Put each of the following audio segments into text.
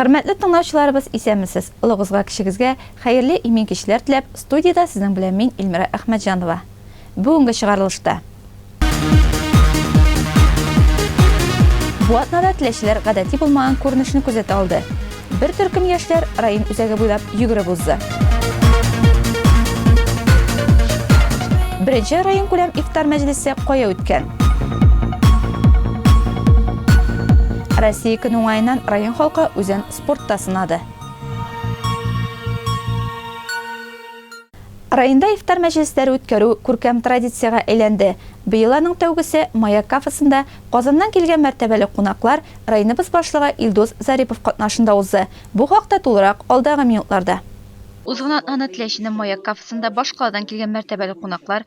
Хөрмәтле тыңлаучыларыбыз, исәнмесез! Олыгызга-кечегезгә хәерле имин кичләр теләп, студиядә сезнең белән мин, Ильмира Әхмәтҗанова. Бүгенге чыгарылышта. Бу атнада теләчеләр гадәти булмаган күренешне күзәтә алды. Бер төркем яшьләр район үзәге буйлап йөгереп узды. Беренче районкүләм ифтар мәҗлесе кая үткән? Россия көн уңаеннан район халкы үзен спортта сынады. Районда ифтар мәҗлесләре үткәрү күркәм традициягә әйләнде. Быел аның тәүгесе Маяк кафесында Казаннан килгән мәртәбәле кунаклар, районыбыз башлыгы Илдус Зарипов катнашында узды. Бу хакта тулырак алдагы минутларда. Узган атнаны Теләченең Маяк кафесында башкаладан килгән мәртәбәле кунаклар,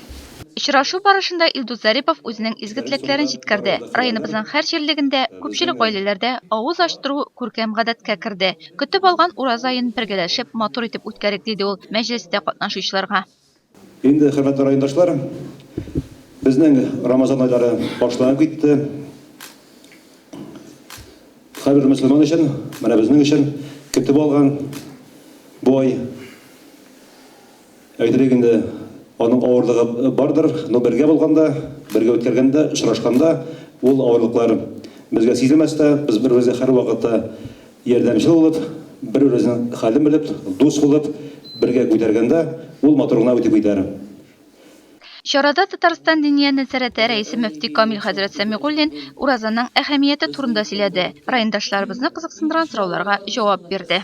Очрашу барышында Илдус Зарипов үзенең изге теләкләрен җиткерде. Районыбызның һәр җирлегендә, күпчелек гаиләләрдә авыз ачтыру күркәм гадәткә керде. Көтеп алган Ураза аен бергәләшеп, матур итеп үткәрик, диде ул мәҗлестә катнашучыларга. Инде, хөрмәтле райондашлар, безнең Рамазан айлары башланып китте. Һәрбер мөселман өчен, менә безнең өчен көтеп алган бу ай. Әйтерлек инде, аның авырлыгы бардыр, но бергә булганда, бергә үткәргәндә, очрашканда ул авырлыклар безгә сизелмәс тә, без бер-беребезгә һәрвакытта ярдәмчел булып, бер-беребезнең хәлен белеп, дус булып, бергә күтәргәндә, ул матур гына үтеп китәр. Чарада Татарстан Диния нәзарәте рәисе мөфти Камил хәзрәт Сәмигуллин уразаның әһәмияте турында сөйләде, райондашларыбызны кызыксындырган сорауларга җавап бирде.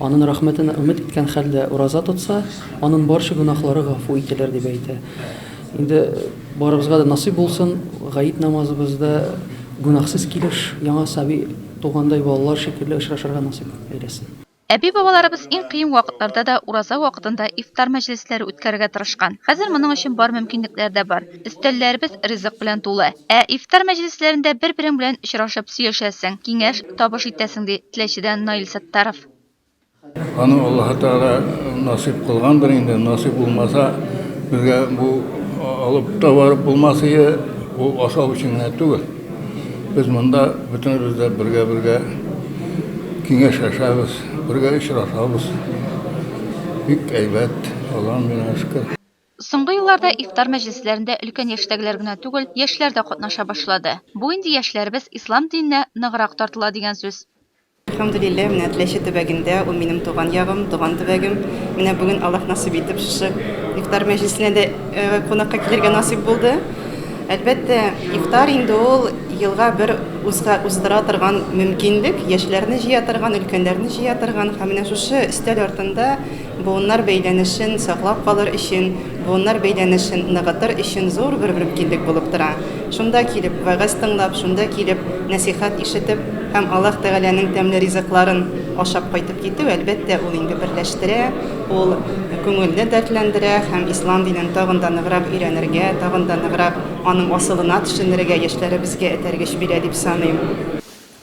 Анын рәхмәтенә өмет иткән хәлдә ураза тотса, анын барча гөнаһлары гафу ителер, дип әйтә. Инде барыбызга да насыйп булсын, гает намазыбызда гөнаһсыз килеш, яңа саби тугандай балалар шикелле очрашырга насыйп әйләсен. Әби-бабаларыбыз иң кыен вакытларда да ураза вакытында ифтар мәҗлесләре үткәрергә тырышкан. Хәзер моның өчен бар мөмкинлекләр дә бар. Өстәлләребез ризык белән тулы. Ә ифтар мәҗлесләрендә бер-берең белән очрашып сөйләшәсең, киңәш, табыш итәсең, ди Теләчедән Наил Саттаров. Аны Аллаһы Тәгалә насыйп кылгандыр инде, насыйп булмаса, безгә бу алып та барып булмас иде, ул ашау өчен генә түгел. Без монда бөтенебез дә бергә-бергә киңәшләшәбез, бергә очрашабыз. Бик әйбәт, Аллаһыга меңә шөкер. Соңгы елларда ифтар мәҗлесләрендә өлкән яшьтәгеләр генә түгел, яшьләр дә катнаша башлады. Бу инде яшьләребез ислам диненә ныграк тартыла дигән сүз. Әлхәмдүлилләһ, менә Теләче төбәгендә, ул минем туган ягым, туган төбәгем. Менә бүген Аллаһ насыйп итеп шушы ифтар мәҗлесенә дә кунакка килергә насыйп булды. Әлбәттә, ифтар инде ул елга бер узга уздыра торган мөмкинлек, яшьләрне җыя торган, өлкәннәрне җыя торган һәм менә шушы өстәл артында Буыннар бәйләнешен саклап калыр өчен, буыннар бәйләнешен ныгытыр өчен зур бер мөмкинлек булып тора. Шунда килеп, вәгазь тыңлап, шунда килеп, нәсыйхәт ишетеп һәм Аллаһ Тәгаләнең тәмле ризыкларын ашап кайтып китү, әлбәттә, ул инде берләштерә, ул күңелне дәртләндерә һәм ислам динен тагын да ныграк өйрәнергә, тагын да ныграк аның асылына төшенергә, яшьләребезгә этәргеч бирә дип саныйм.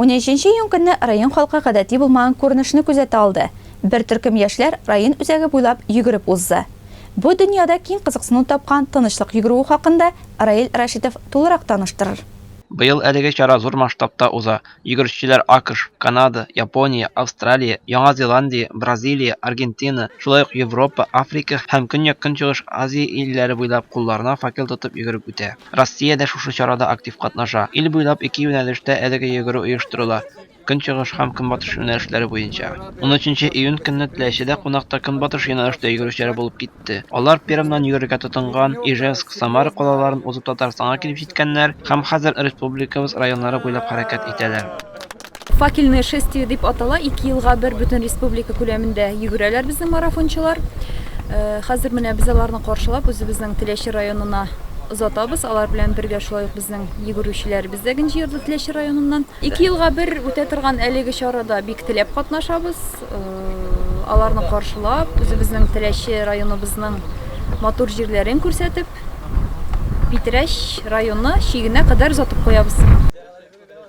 Унөченче июнь көнне район халкы гадәти булмаган күренешне күзәтә алды, бер төркем яшьләр район үзәге буйлап йөгереп узды. Бу дөньяда киң кызыксыну тапкан тынычлык йөгерүе хакында Раил Рәшитов тулырак таныштырыр. Быел әлеге чара зур масштабта уза. Йөгерешчеләр АКШ, Канада, Япония, Австралия, Яңа Зеландия, Бразилия, Аргентина, шулай ук Европа, Африка һәм Көньяк-Көнчыгыш Азия илләре буйлап кулларына факел тотып йөгереп үтә. Россия дә шушы чарада актив катнаша. Ил буйлап ике юнәлештә әлеге йөгерү оештырыла, көнчыгыш һәм көнбатыш юнәлешләре буенча. Унөченче июнь көнне Теләчедә кунакта көнбатыш юнәлештә йөгерүчеләр булып китте. Алар Пермьнан йөгерергә тотынган, Ижевск, Самара калаларын узып Татарстанга килеп җиткәннәр һәм хәзер республикабыз районнары буйлап хәрәкәт итәләр. Факельное шествие дип атала, ике елга бер бөтен республика күләмендә йөгерәләр безнең марафончылар. Э, хәзер менә без аларны каршылап үзебезнең Теләче районына озатабыз. Алар белән бергә шулай ук безнең йөгерүчеләребез дә генҗи йорды Теләче районыннан. Ике елга бер үтә торган әлеге чарада бик теләп катнашабыз. Э, аларны каршылап, үзебезнең Теләче районыбызның матур җирләрен күрсәтеп, Питрәч районы чигенә кадәр озатып куябыз.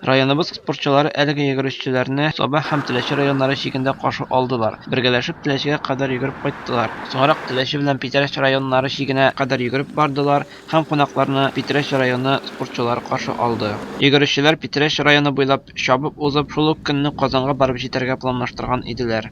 Районыбыз спортчылары әлеге йөгерешчеләрне Саба һәм Теләче районнары чигендә каршы алдылар. Бергәләшеп Теләчегә кадәр йөгереп кайттылар. Соңрак Теләче белән Питрәч районнары чигенә кадәр йөгереп бардылар һәм кунакларны Питрәч районы спортчылары каршы алды. Йөгерешчеләр Питрәч районы буйлап чабып узып, шул ук көнне Казанга барып җитәргә планлаштырган иделәр.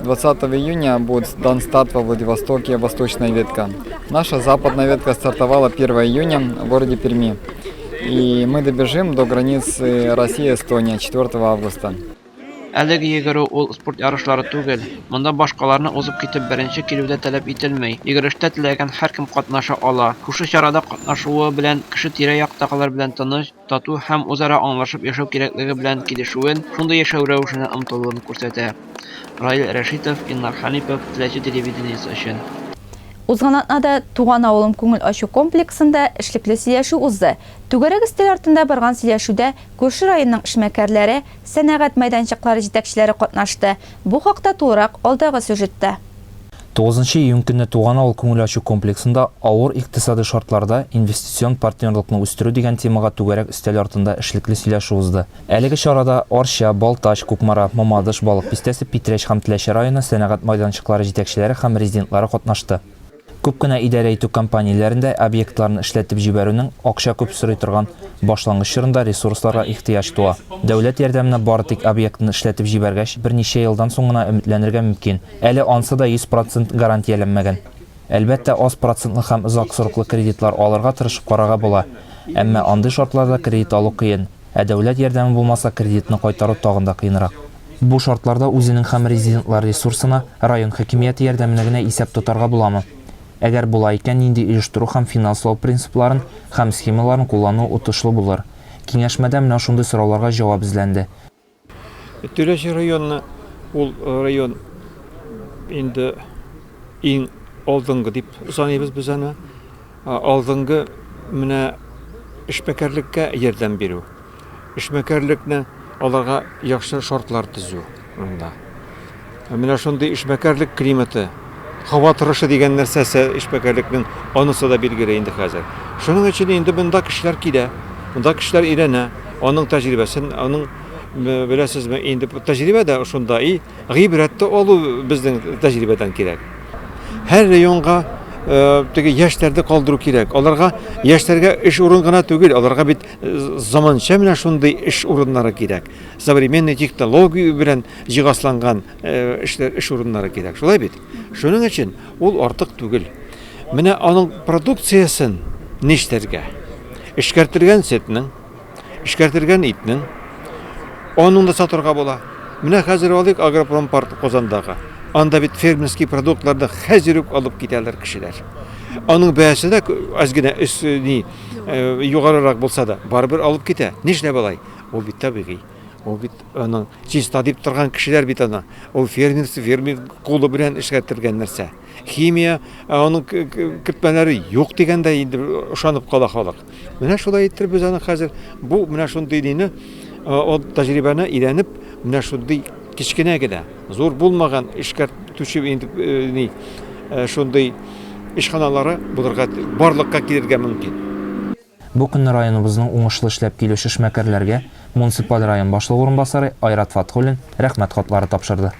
20 июня будет дан старт во Владивостоке «Восточная ветка». Наша западная ветка стартовала 1 июня в городе Перми. И мы добежим до границы России-Эстония 4 августа. Әлеге йөгерү ул спорт ярышлары түгел. Монда башкаларны узып китеп беренче килү дә таләп ителми. Йөгерештә теләгән һәркем катнаша ала. Шушы чарада катнашуы белән кеше тирә-яктагылар белән тыныч, тату һәм үзара аңлашып яшәү кирәклеге белән килешүен, шундый яшәү рәвешенә омтылуын күрсәтә. Раил Рәшитов, Илнар Хәнипов, Теләче телевидениесе өчен. Узган атнада Туган авылым күңел ачу комплексында эшлекле сөйләшү узды. Түгәрәк өстәл артында барган сөйләшүдә күрше районның эшмәкәрләре, сәнәгать мәйданчыклары җитәкчеләре катнашты. Бу хакта тулырак алдагы сюжетта. Тугызынчы июнь көнне Туган авыл күңел ачу комплексында Авыр икътисадый шартларда инвестицион партнерлыкны үстерү дигән темага түгәрәк өстәл артында эшлекле сөйләшү узды. Әлеге чарада Арча, Балтач, Кукмара, Мамадыш, Балык Бистәсе, Питрәч һәм Теләче районы сәнәгать майданчыклары җитәкчеләре һәм резидентлары катнашты. Күп кенә идарә итү компанияләрендә объектларны эшләтеп җибәрүнең акча күп сорый торган башлангыч чорында ресурсларга ихтыяҗ туа. Дәүләт ярдәменә бары тик объектны эшләтеп җибәргәч, берничә елдан соң гына өметләнергә мөмкин. Әле ансы да 100 процент гарантияләнмәгән. Әлбәттә, аз процентлы һәм озак сроклы кредитлар алырга тырышып карарга була. Әмма андый шартларда кредит алу кыен, ә дәүләт ярдәме булмаса, кредитны кайтару тагын да кыенрак. Бу шартларда үзенең һәм резидентлар ресурсына, район хакимияте ярдәменә генә исәп тотарга буламы? Әгәр була икән, нинди оештыру һәм финанслау принципларын һәм схемаларын куллану отышлы булыр? Киңәшмәдә менә шундый сорауларга җавап эзләнде. Тирәче районы ул район инде иң алдынгы дип саныйбыз без аны. Алдынгы менә эшмәкәрлеккә ярдәм бирү. Эшмәкәрлекне аларга яхшы шартлар төзү монда. Менә шундый эшмәкәрлек климаты, һава торышы дигән нәрсәсе эшмәкәрлекнең анысы да билгеле инде хәзер. Шуның өчен инде монда кешеләр килә, монда кешеләр өйрәнә, аның тәҗрибәсен, аның беләсезме, инде тәҗрибә дә шунда и гыйбрәтте алу безнең тәҗрибәдән кирәк. Һәр районга э, теге яшьләрне калдыру кирәк. Аларга яшьләргә эш урын гына түгел, аларга бит э, заманча менә шундый эш урыннары кирәк. Современный технология белән җиһазланган эшләр эш урыннары кирәк шулай бит шуның өчен ул артык түгел менә аның продукциясен нишләргә эшкәртелгән сөтнең эшкәртелгән итнең аның да сатырга була менә хәзер алыйк агропром парк казандагы анда бит фермерский продуктларны хәзер үк алып китәләр кешеләр аның бәясе дә аз генә өс ни югарырак булса да барыбер алып китә нишләп алай ул бит табигый Ул бит аның чиста дип торган кешеләр бит ана. Ул фермер, фермер кулы белән эшкәртелгән нәрсә. Химия, аның кертмәләре юк дигәндә инде ошанып кала халык. Менә шулай итеп без аны хәзер бу менә шундый дине ул тәҗрибәне өйрәнеп, менә шундый кечкенә генә, зур булмаган эшкәртүче инде ни шундый эшханалары булырга барлыкка килергә мөмкин. Бу көнне районыбызның уңышлы эшләп килүче эшмәкәрләргә муниципаль район башлыгы урынбасары Айрат Фатхуллин Рәхмәт хатлары тапшырды.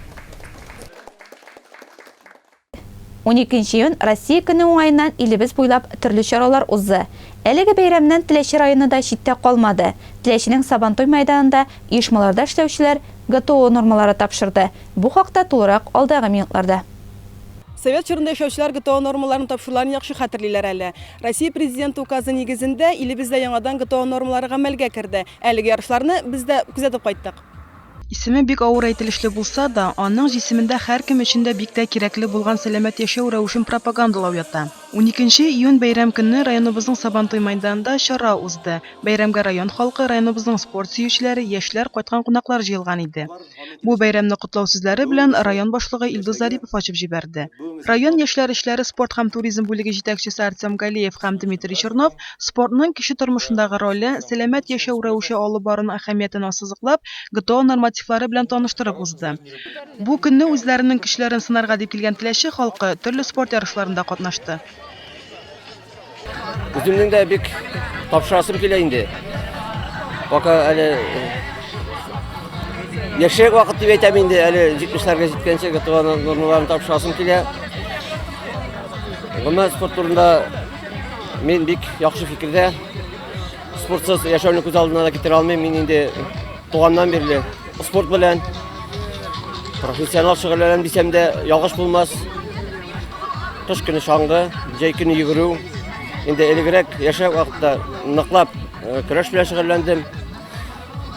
Уникенче июнь Россия көне уңаеннан илебез буйлап төрле чаралар узды. Әлеге бәйрәмнән Теләче районы да читтә калмады. Теләченең Сабантуй мәйданында оешмаларда эшләүчеләр ГТО нормалары тапшырды. Бу хакта тулырак алдагы минутларда. Совет чорында яшәүчеләр ГТО нормаларын тапшыруларын яхшы хәтерлиләр әле. Россия Президенты указы нигезендә илебездә яңадан ГТО нормалары гамәлгә керде. Әлеге ярышларны без дә күзәтеп кайттык. Исеме бик авыр әйтелешле булса да, аның җисемендә һәркем өчен дә бик тә кирәкле булган сәламәт яшәү рәвешен пропагандалау ята. Уникенче июнь бәйрәм көнне районыбызның Сабантуй мәйданында чара узды. Бәйрәмгә район халкы, районыбызның спорт сөючеләре, яшьләр, кайткан кунаклар җыелган иде. Бу бәйрәмне котлау сүзләре белән район башлыгы Илдус Зарипов ачып җибәрде. Район яшьләр эшләре, спорт һәм туризм бүлеге җитәкчесе Артем Галеев һәм Дмитрий Чернов спортның кеше тормышындагы роле, сәламәт яшәү рәвеше алып баруның әһәмиятен ассызыклап, ГТО нормативлары белән таныштырып узды. Бу көнне үзләренең көчләрен сынарга дип килгән Теләче халкы төрле спорт ярышларында катнашты. Үземнең дә бик тапшырасым килә инде. Пока әле э, яшерек вакыт дип әйтәм инде, әле 70-ләргә җиткәнче готована нормаларын тапшырасым килә. Гомумән спорт турында мин бик яхшы фикердә. Спортсыз яшәүне күз алдына да китерә алмыйм. Мин инде туганнан бирле Спорт белән профессионал шөгыльләнәм дисәм дә ялгыш булмас. Кыш көне шаңгы, җәй көне йөгерү. Инде элегрәк яшәү вакытта ныклап э, көрәш белән шөгыльләндем.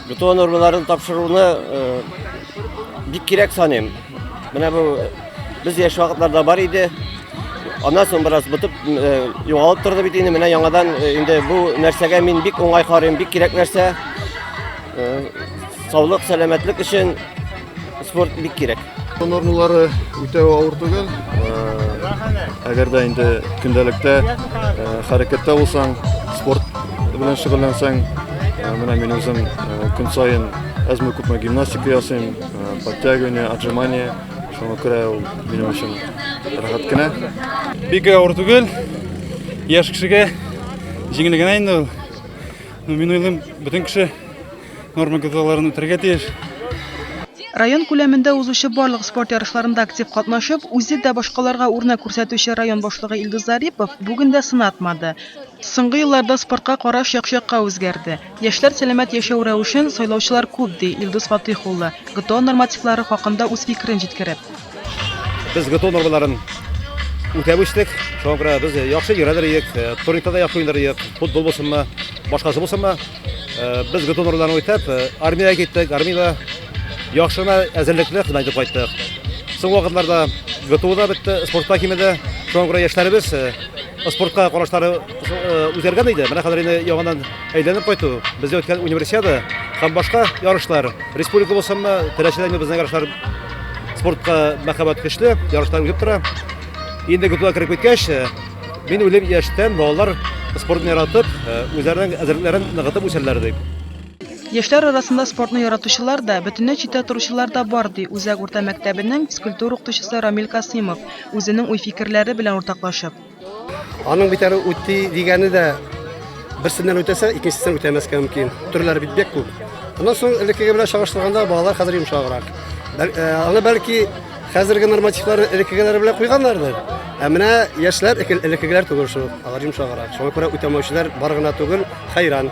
Бетон нормаларын тапшыруны э, бик кирәк саныйм. Менә бу без яшь вакытларда бар иде. Аннан соң бераз бытып э, югалып торды бит инде. Менә яңадан инде бу нәрсәгә мин бик уңай карыйм, бик кирәк нәрсә. Саулык, сәламәтлек өчен спорт бик кирәк. Нормалары үтә авыр түгел. Әгәр дә инде көндәлектә хәрәкәттә булсаң, спорт белән шөгыльләнсәң, менә мин үзем көн саен әзме күпме гимнастика ясыйм, подтягивание, отжимание, шуңа күрә ул минем өчен рәхәт кенә. Бик авыр түгел. Яшь кешегә җиңел генә инде ул. Ну, мин уйлыйм, бөтен кеше норма кагыйдәләрен үтәргә тиеш. Район күләмендә узучы барлык спорт ярышларында актив катнашып, үзе дә башкаларга үрнәк күрсәтүче район башлыгы Илдус Зарипов бүген дә сынатмады. Соңгы елларда спортка караш як-якка үзгәрде. Яшьләр сәламәт яшәү рәвешен сайлаучылар күп, ди Илдус Фатыйх улы, ГТО нормативлары хакында үз фикерен җиткереп. Без ГТО нормаларын үтәп үстек. Шуңа күрә без яхшы йөрәдер идек, э, турникта да яхшы уйнар идек, футбол булсынмы, башкасы булсынмы. Э, без ГТО нормаларын үтәп, э, армиягә киттек, армиядә яхшы гына әзерлекле хезмәт итеп кайттык. Соң вакытларда ГТО да бетте, спортта кимеде. Шуңа күрә яшьләребез спортка карашлары үзгәргән иде. Менә хәзер инде яңадан Әйләнеп кайту, бездә үткән универсиада һәм башка ярышлар, республика булсынмы, теләчеләрне безнең ярышлар спортка мәхәббәт көчле, ярышлар үтеп тора. Инде көтүгә кереп киткәч, э, мин уйлыйм яшьтән балалар спортны яратып, э, үзләренең әзерлекләрен ныгытып үсәрләр дип. Яшьләр арасында спортны яратучылар да, бөтенләй читтә торучылар да бар, ди Үзәк урта мәктәбенең физкультура укытучысы Рамил Касыймов, үзенең уй-фикерләре белән уртаклашып. Аның бит әле үти дигәне дә берсеннән үтәсә, икенчесеннән үтәмәскә мөмкин. Төрләре бит бик күп. Аннан соң элеккеге белән чагыштырганда балалар хәзер йомшаграк. Э, аны бәлки хәзерге нормативлар элеккегеләр белән куйганнардыр. Ә менә яшьләр элеккегеләр түгел шул. Алар йомшаграк. Шуңа күрә үтәмәүчеләр бар гына түгел, хәйран.